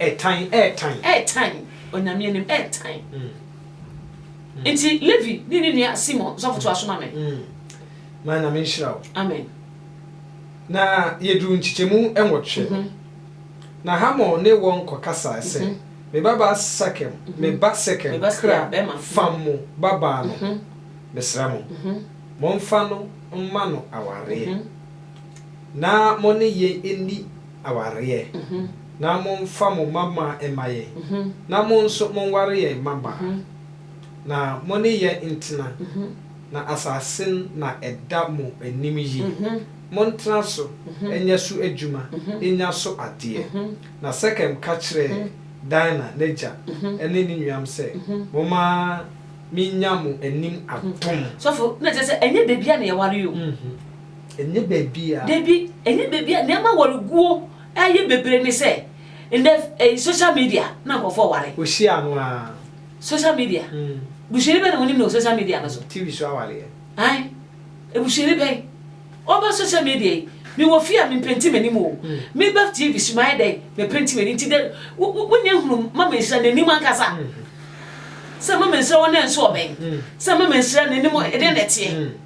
Ɛtan, ɛtan. Ɛtan, Onyame anim ɛtan. Nti Levi ne ne nua Simon, sɔfo toa so ma me. Ma Nyame nhyira wo. Amen. Na yɛduru nkyekyɛmu nwɔtwe no, na Hamor ne wɔn kɔkasae sɛ, Me babaa Sekem, me ba Sekem kra fa mo babaa no ho, mesrɛ mo, momfa no mma no awareɛ, na mo ne yɛn nni awareɛ. Na momfa mo mmabmaa mma yɛn, na mo nso monware yɛn mmabaa, na mo ne yɛn ntena, na asase no na ɛda mo anim yi. Montena so nyɛ so adwuma nnya so adeɛ. Na Sekem ka kyerɛɛ Dina n'agya ne ne nuanom sɛ, Momma mennya mo anim atom. Sɔfo, na kyerɛ sɛ ɛnyɛ baabiara na yɛwaree o. Ɛnyɛ baabiara. Dabi, ɛnyɛ baabiara, nneɛma ware guo. Ɛyɛ bebree ne sɛ ndɛ ɛyi social media na nkorɔfoɔ ware. Wɔ hyia no aa. Social media? Busuani bɛn na wonim no wɔ social media no so? TV so awaleɛ. Ae, abusuani bɛn? Ɔba social media yi, me wɔ fie a me mpenti m'anim oo, me ba TV so mayɛ dɛn? Me penti m'ani nti dɛ wo wo nyɛ hunu Mama Nhyira n'anim ankasa? Sɛ Mama Nhyira wo nan so ɔbɛn? Sɛ Mama Nhyira n'anim ɛdɛn na ɛteɛ?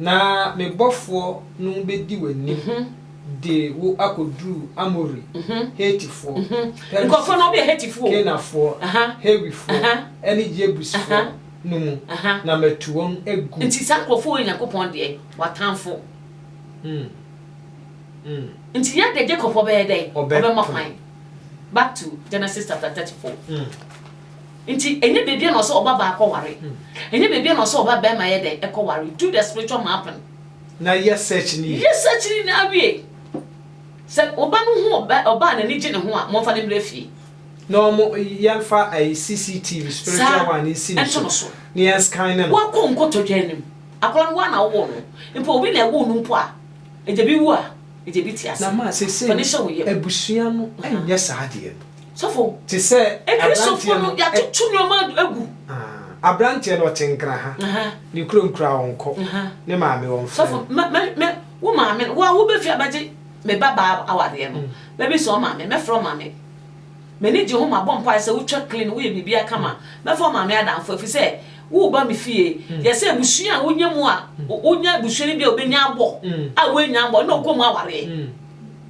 Na me bɔfoɔ no bɛdi w'anim de wo akɔduru Amori, Hetifoɔ, Perisifoɔ, Kanaanfoɔ, Hewifoɔ, ne Yebusfoɔ no mu, na matu wɔn agu. Nti saa nkurɔfoɔ wei yɛ Nyankopɔn deɛ, w'atamfo. Nti yɛn deɛ Jacob ɔbɛyɛ dɛn? Ɔbɛma kwan. Back to Genesis chapter thirty four. Nti ɛnyɛ bebia na ɔsɛ ɔbabaa kɔ ware ɛnyɛ bebia na ɔsɛ ɔba bɛɛma yɛ dɛn ɛkɔ ware do the spiritual mapping na yɛ search no yie. Yɛ search no nyinaa wie sɛ woba no hu ɔbaa na ani gye ne ho a momfa no mmrɛ fie. Na ɔmo yɛnfa ɛyi CCTV spiritual one no nsi no so na yɛn scan no. Wakɔ nkotodwe anim akɔla no woa na wowoo no mpo obi na ɛwoo no mpo a ɛgya bi wu a ɛgya bi te ase. Na ma sɛsɛi no abusua no nyɛ saa adeɛ no. Sɔfo, Akristofo no, yɛatoto nneɛma agu. Aberanteɛ no, ɔte Nkraha. Ne kurom koraa ɔnkɔ. Ne maame, wɔmfrɛ no. Sɔfo, Wo maame no, wo a wobɛfi abɛgye me babaa awareɛ no, mɛbisa wo maame, mɛfrɛ wo maame. M'ani gye ho, mabɔ mpaeɛ sɛ wotwa clean, woyɛ biribiara kama. Mɛfa wo maame adamfo, ɛfiri sɛ woreba me fie. Yɛ sɛ abusua a wonya mu a, wonya abusua no bi a wobɛnya abɔ a woannya abɔ, ɛnna wokɔ mu awareɛ.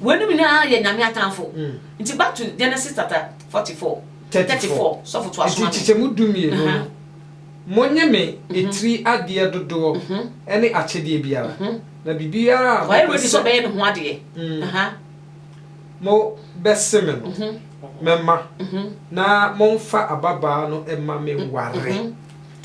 Weinom nyinaa yɛ Nyame atamfo. Nti back to Genesis chapter forty four, thirty four, sɔfo toa so ma me. Nti kyekyɛmu du mmienu no, monye me etiri adeɛ dodoɔ ne akyedeɛ biara, na biribiara a mopɛ sɛ. Ɔyɛ ready sɛ ɔbɛyɛ ne ho adeɛ. Mo bɛse me no, mɛma, na monfa ababaa no mma me nware.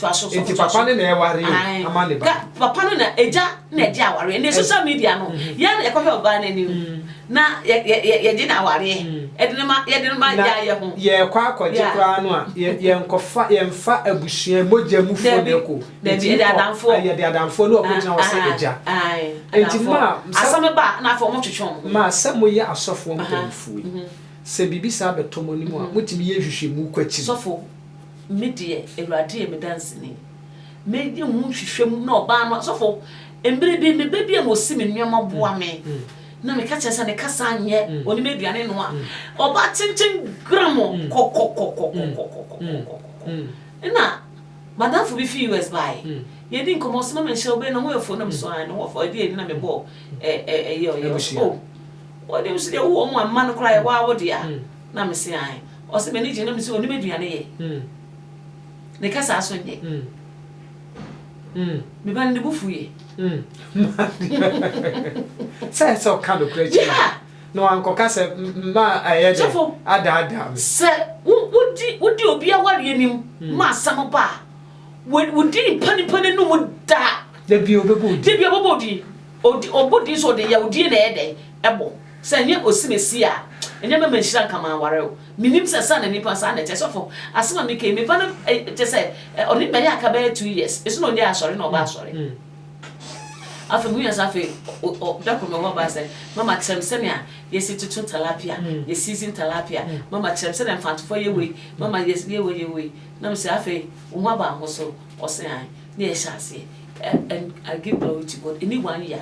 Nti papa no na ɛware o ama ne ba. Papa no na agya na ɛgye awareɛ ɛnɛ social media no yɛn na yɛkɔhwɛ ɔbaa no anim na yɛgye no awareɛ ɛde no ma yɛde no ma agya yɛ ho. Yɛkɔ akɔgye koraa no a yɛnkɔfa yɛnfa abusua mogya mu foɔ na ɛkɔ o yɛde adamfoɔ na ɔkɔgyina hɔ sɛ agya nti mo a asɛm ba a na afei wɔn twetwe wɔn ho. Mo a sɛ moyɛ asɔfoɔ mpanyinfoɔ yi sɛ biribi saa bɛtɔ mo anim a motumi yɛ nhwehwɛmu kɔ akyiri. Me deɛ, Awurade yɛ me danseni. Mɛyɛ ho nhwehwɛmu na ɔbaa no asɔfo. Mmere bi, me ba bi a na ɔsi me nneɛma boa me. Na meka kyerɛ sɛ ne kasa nyɛ, ɔnim aduane noa. Ɔbaa tenten gram kɔkɔkɔkɔkɔkɔkɔkɔkɔkɔ. Ɛna madamfo bi fi US baeɛ. Yɛdi nkɔmmɔ, ɔse, Mama nhyira wo, bɛn na ho yɛ fo? Na me so, ae, ne ho yɛ fo, ɛdeɛn nti na mebɔ ɛyɛ ɔyɛ? Ɔse, oh, wode nso deɛ wowɔ wɔn a mma no koraa, ɛwɔ a wode a. Na me se ae. Ɔse m'ani gye na me se onim aduane yɛ. Ne kasa nso nye. Me ba no ne bo fu ye. Sɛ sɛ ɔka nokorɛ kyerɛ me na wankɔka sɛ mma ɛyɛ dɛ adaadaa me. Sɛ wodi obi awareɛ anim ma asɛm ba a, wodi nipa nipa no anum da a, da biara ɔbɛbɔ wo din. Ɔbɔ din nso ɔde yawdie na ɛyɛ dɛ? Ɛbɔ. Sɛ ɛnyɛ Osimesi a, ɛnyɛ mɛma nhyira nka m'aware o. Menim sɛ saa na nnipa saa na ɛteɛ. Sɔfo, asɛm a meka yi, me ba no kyerɛ sɛ ɔne me bɛyɛ aka bɛyɛ two years. Nso na ɔnyɛ asɔre na ɔba asɔre. Afei mehui sɛ afei da koro mewɔ hɔ baa sɛ mama kyerɛ me sɛnea yɛsi toto talapia, yɛ season talapia. Mama kyerɛ me sɛnea mfantofo yɛ wei, mama yɛ wei yɛ wei. Na mese afei wo ho aba wo ho so? Ɔse ae. Na yɛhyɛ aseɛ and I give glory to God, ɛnni one year.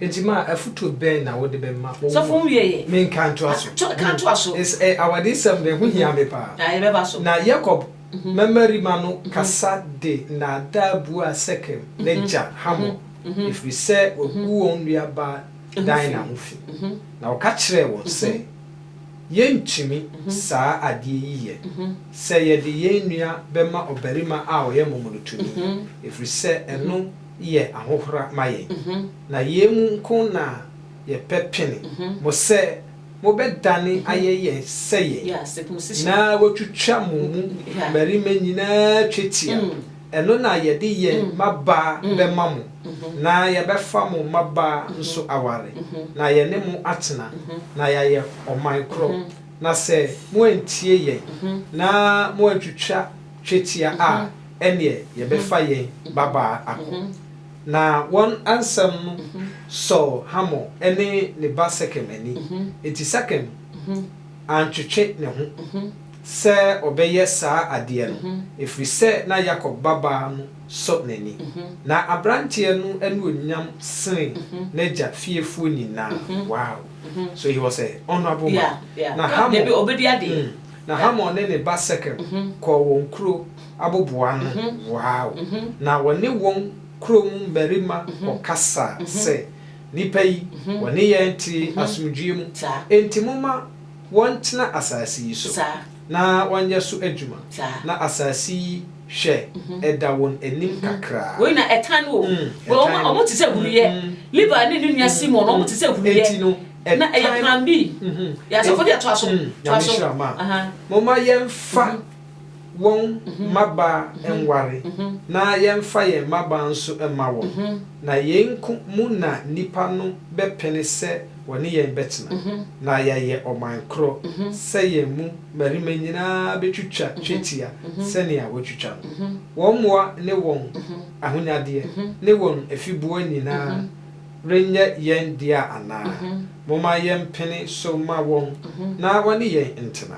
Enti ma afotuo bɛn na wode bɛma wo Sɔfo ho wie yɛ. Me nka ntoa so. Toa ka toa so. It's a awadesɛm de ɛho hia me paa. Na yɛ bɛba so. Na Yakob mmamarima no kasa de nnaadaa buaa Sekem n'agya Hamor, ɛfiri sɛ waku wɔn nuabaa Dina ho fi. Na ɔka kyerɛɛ wɔn sɛ, Yɛntumi saa adeɛ yi yɛ, sɛ yɛde yɛn nua bɛma ɔbarima a ɔyɛ momonotoni, ɛfiri sɛ ɛno yɛ ahohora ma yɛn, na yei mu nko na yɛpɛ pene mo sɛ mobɛdane ayɛ yɛn sɛ yɛn, na wɔatwitwa mo mu mmarima nyina ara twetia, ɛno na yɛde yɛn mmabaa bɛma mo, na yɛbɛfa mo mmabaa nso aware, na yɛne mo atena, na yɛayɛ ɔman korɔ, na sɛ moantie yɛn, na moantwitwa. twetia a, ɛnneɛ yɛbɛfa yɛn babaa akɔ. Na wɔn asɛm no sɔɔ Hamor ne ne ba Sekem ani, enti Sekem antwetwe ne ho sɛ ɔbɛyɛ saa adeɛ no, ɛfiri sɛ na Yakob babaa no sɔ n'ani. Ná aberanteɛ no anuonyam sene n'agya fiefoɔ nyinaa. Wow! So he was a honourable man. Na Hamor, mm. Na Hamor ne ne ba Sekem kɔɔ wɔn kuro aboboano no, wow, na wɔne wɔn kuro mu mmarima kɔkasaa sɛ, Nnipa yi, wɔne yɛn te asomdwoeɛ mu, enti momma wɔntena asase yi so, na wɔnyɛ so adwuma, na asase yi, hwɛ, ɛda wɔn anim kakra. Mm, ɛtan no. Mm, mm. Enti no. Na ɛyɛ plan B. Yɛ asafo deɛ toa so. Toa so. Momma yɛmfa wɔn mmabaa nware, na yɛmfa yɛn mmabaa nso mma wɔn, na yei nko mu na nnipa no bɛpene sɛ wɔne yɛn bɛtena, na yɛayɛ ɔman korɔ, sɛ yɛn mu mmarima nyina ara bɛtwitwa twetia sɛdeɛ wɔatwitwa no. Wɔn mmoa ne wɔn ahonyadeɛ ne wɔn afiboa nyina ara. renyɛ yɛn dea anaa? Momma yɛmpene so mma wɔn na wɔne yɛn ntena.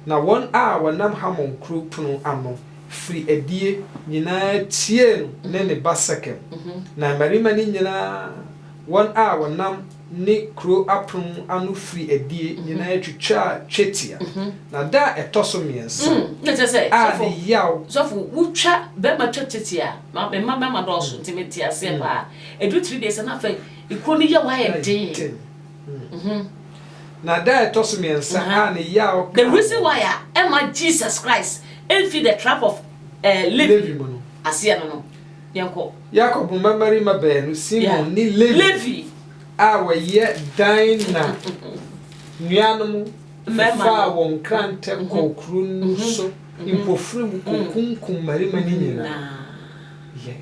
Na wɔn a wɔnam Hamon kuro pono ano firi adie nyinaa tiee no ne ne ba Sekem, na mmarima no nyinaa, wɔn a wɔnam ne kuro apono ano firi adie nyinaa twitwaa twetia. Na da a ɛtɔ so mmiɛnsa a ne yaw. Sɔfo, wotwa barima twa twetia a, me mma mmarima dɔɔso nti mete aseɛ paa. Ɛduru three days a na afei kuro no yaw ayɛ den. Na da a ɛtɔ so mmiɛnsa a ne yaw kaa wɔn. The reason why a ɛmma Jesus Christ mfi the trap of Levi mu no. Aseɛ no no. Yɛnkɔ. Yakob mmammarima baanu, Simon ne Levi. Levi. A wɔyɛ dan na nuanom faa wɔn nkrantɛ kɔɔ kuro no so mpofirim kɔkunkum mmarima no nyinaa. Yɛn.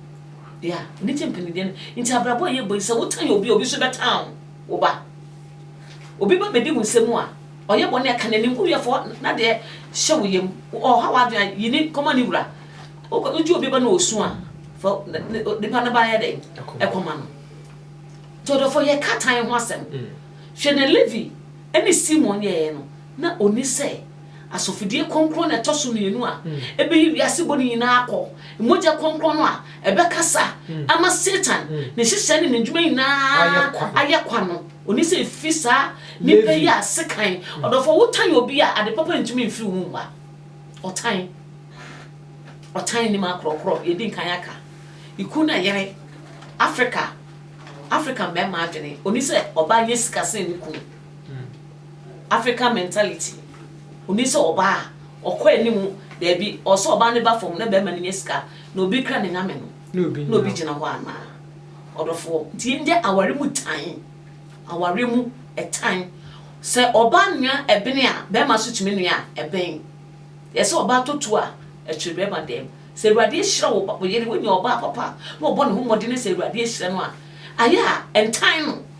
Yeah, anigye mpanideɛ no. Nti abrabɔ a yɛbɔ yi, sɛ wotan obi a, obi nso bɛtan wo. Wo ba. Obi ba bɛdi wo nsɛm a, ɔyɛ bɔne a, ka n'anim. Wo yɛ fɔ na deɛ hyɛ wo yam. Ɔha w'adwene a, yi ne kɔma ne wura. Wogye obi ba na ɔsu a, fa nipa no ba yɛ dɛn? Ɛkɔma no. Nti ɔdɔfo, yɛka tan ho asɛm. Hwɛ nea Levi ne Simon yɛeɛ no. na onni sɛ asɔfodie kronkron na ɛtɔ so mmienu a ɛbɛyi wiase bɔne nyinaa akɔ, mogya kronkron no a ɛbɛkasa ama Satan, ne nhyehyɛe ne n'adwuma nyinaa ayɛ kwa no, onni sɛ ɛfiri saa nnipa yi a sekan. Ɔdɔfoɔ, wotan obi a, ade papa ntumi mfiri wo mu mma. Ɔtan. Ɔtan nnim akorɔkorɔ, deɛ ɛdi nkan aka. Ekuo no ɛyere. Afrika, Afrika mmarima adwene, onni sɛ ɔbaa nyɛ sika sene ne kunu. Hmm African mentality Onni sɛ ɔbaa a ɔkɔ anim daabi ɔwɔ sɛ ɔbaa no ba fam na bɛɛma no nya sika na obi kra ne nyame no na obi gyina hɔ anaa ɔdɔfoɔ nti ndɛ aware mu tan aware mu ɛtan sɛ ɔbaa nua ɛbene a bɛɛma nso tumi nua ɛben yɛ sɛ ɔbaa tɔ tuo a ɛkyere bɛɛma dɛm sɛ awurade ahyira wo yere wonya ɔbaa papa na ɔbɔ ne ho mmɔdene sɛ awurade ahyira no a ayɛ a ɛntan no.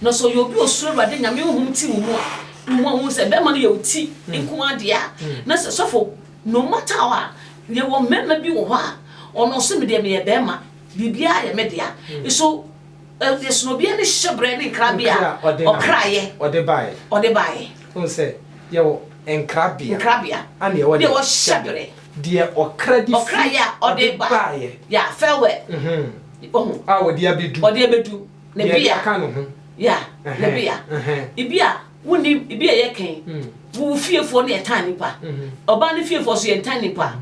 Na sɛ ɔyɛ obi a osuro Awurade, Nyame honhom te wo mu a, wo mu a wohu sɛ bɛrima no yɛ wo ti nko ara dea. Na sɛ sɔfo, no matter how a, yɛwɔ mmarima bi wɔ hɔ a, ɔno ɔse medeɛ meyɛ bɛrima, biribiara yɛ me dea. So ɛsono obiara ne hyɛbrɛ ne nkrabea a ɔkraeɛ ɔde baeɛ. Wohu sɛ yɛwɔ nkrabea ɛne yɛwɔ hyɛbrɛ. Deɛ ɔkra de firi ɔde baeɛ. Yeah, farewell. Wohu? A ɔde abɛdu. Ɔde abɛdu. na bi a ka no ho ya na bi a ebi a wonni ebi a yɛkɛn wo wo fiefoɔ ne yɛtan nipa ɔbaa ne fiefoɔ so yɛntan nipa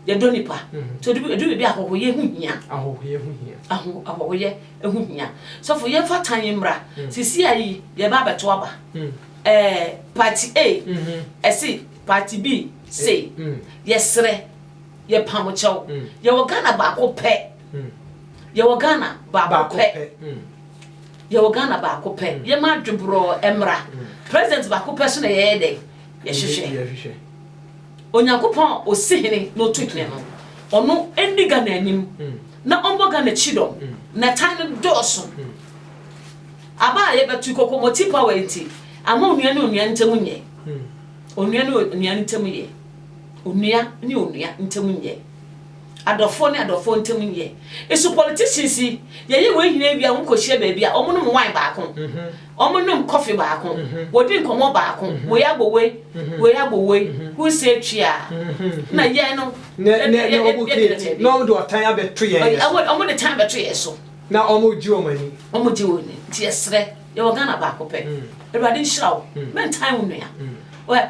yɛdɔ nipa so edu edu baabi ahɔhoyɛ ho hia ahɔhoyɛ ho hia aho ahɔhoyɛ ho hia sɔfo yɛmfa tan yi mmra sisi ayi yɛba abɛto aba ɛɛ party a ɛsi party b sei yɛsrɛ yɛpam kyɛw yɛwɔ Ghana baako pɛ. Yɛwɔ Ghana baako pɛ. Yɛwɔ Ghana baako pɛ. Yɛma adweborɔɔ mmra. President baako pɛ so na yɛyɛ dɛn? Yɛhwehwɛ. Onyankopɔn a ɔsi hene na ɔtu hene no, ɔno ɛnni Ghana anim na ɔmmɔ Ghana kyidɔm. Na tan no dɔɔso. Aba a yɛbɛto, kɔkɔmɔti power yi nti, ama onua ne onua ntam nyɛ. Onua ne onua ntam yɛ. Onua ne onua ntam nyɛ. Adɔfoɔ ne adɔfoɔ ntam yɛ esu politicians yi yɛyɛ wei nyinaa wie a wɔn kɔ hyia baabi a wɔn nom wine baako wɔn nom coffee baako wɔ di nkɔmɔ baako wei abɔ wei wei abɔ wei who say twia na yɛn no ne ne ne wɔn create na wɔn de ɔtan abɛto yɛn yɛ so wɔn de tan abɛto yɛn so na wɔn gye wɔn ani wɔn gye wɔn ani nti yɛsrɛ yɛwɔ Ghana baako pɛ awurade nhyira wo mɛntan wo nua wɛ.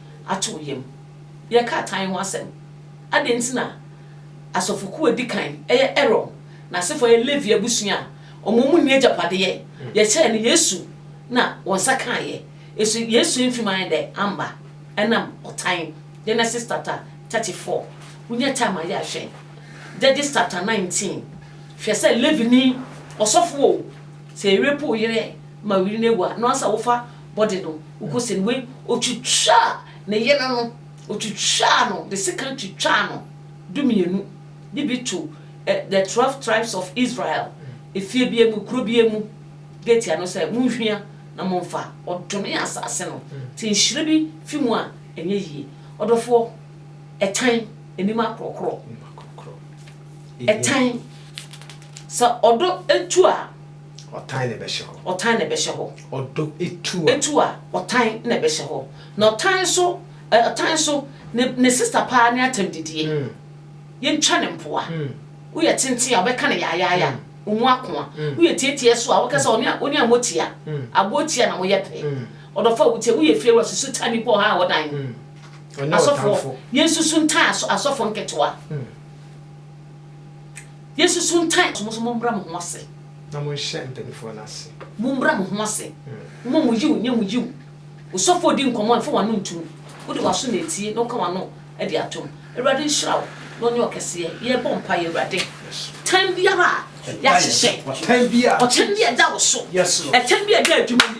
ato wo yam. Yɛreka atan ho asɛm. Adɛn nti na asɔfo kuw a edi kan yɛ Aaron n'asefo a ɛyɛ Levi abusua a wɔn mu nni agyapade yɛ? Yɛkyerɛɛ no Yesu na wɔn nsa kaeɛ. So Yesu amfi mu ayɛ dɛ? Amma. Ɛnam ɔtan, Genesis chapter thirty four. Wonya time a yɛ a hwɛ Judges chapter nineteen. Hwɛ sɛ Levini, ɔsɔfo o, sɛ yɛrerepu wo yere ma wo yere no awu a, na ɔnsɛ sɛ wofa bɔde no, wokɔsie no, wei ɔtwitwaa ne yere no, ɔtwitwaa no de sekan twitwaa no dumienu, de bi to ɛ, the twelve tribes of Israel, efie biara mu, kuro biara mu gate ano sɛ, Monhwia na momfa, ɔdome asase no, nti nhyira bi fi mu a, ɛnyɛ yie. Ɔdɔfoɔ, ɛtan anim akorɔkorɔ, ɛtan, sɛ ɔdɔ tu a. Ɔtan na ɛbɛhyɛ hɔ. Ɔtan na ɛbɛhyɛ hɔ. Ɔdɔ tu a. Tu a, ɔtan na ɛbɛhyɛ hɔ. Na ɔtan nso, ɛ, ɔtan nso, ne, ne sista paa ne atɛmdidie. Yɛntwa no mpoa. Woyɛ tenten a, wobɛka no yaayaaya. Ɔmu ako a. Woyɛ tietie nso a, wobɛka sɛ ɔne, wo ne ammɔ tia. Aboɔ tia na moyɛ pɛ. Ɔdɔfoɔ a wotie, woyɛ fie wura, susu tan nipa ɔha a ɔwɔ dan mu. Asɔfoɔ, yɛnsusu ntan asɔ, asɔfoɔ nketewa. Yesu so ntan. Mo nso mommrɛ mo ho ase. Na monhyɛ mpanimfoɔ no ase. Mommrɛ mo ho ase. Momma mo Yiw nyɛ mo Yiw. Osɔfo redi nkɔmmɔ a, mfa w'ano nto mu. Wode w'aso na etie, na woka w'ano de atom. Awurade nhyira wo, na ɔnyɛ ɔkɛseɛ. Yɛrebɔ mpaeɛ, Awurade. Tan biara a yɛahyehyɛ. Ɔtan bi a ɛda wo so. Ɛtan bi a ɛda adwuma mu.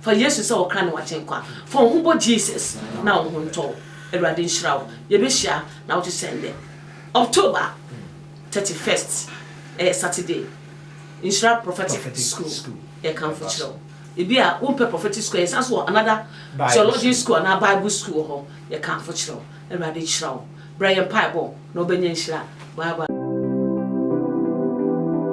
Fa Yesu sɛ wo kra ne w'agyenkwa. Fa wo ho bɔ Jesus na wo ho ntɔ wo. Awurade nhyira wo. Yɛbɛhyia na wote sɛ ndɛ. October thirty first, ɛyɛ Saturday, Nhyira Prophetic School yɛkamfo kyerɛ wo. Ebi a wompɛ Prophetic School a, yɛsan nso wɔ another Theology School anaa Bible School wɔ hɔ. Yɛkamfo kyerɛ wo. Awurade nhyira wo. Bra yɛn mpaebɔ na wobɛnya nhyira. Bye bye.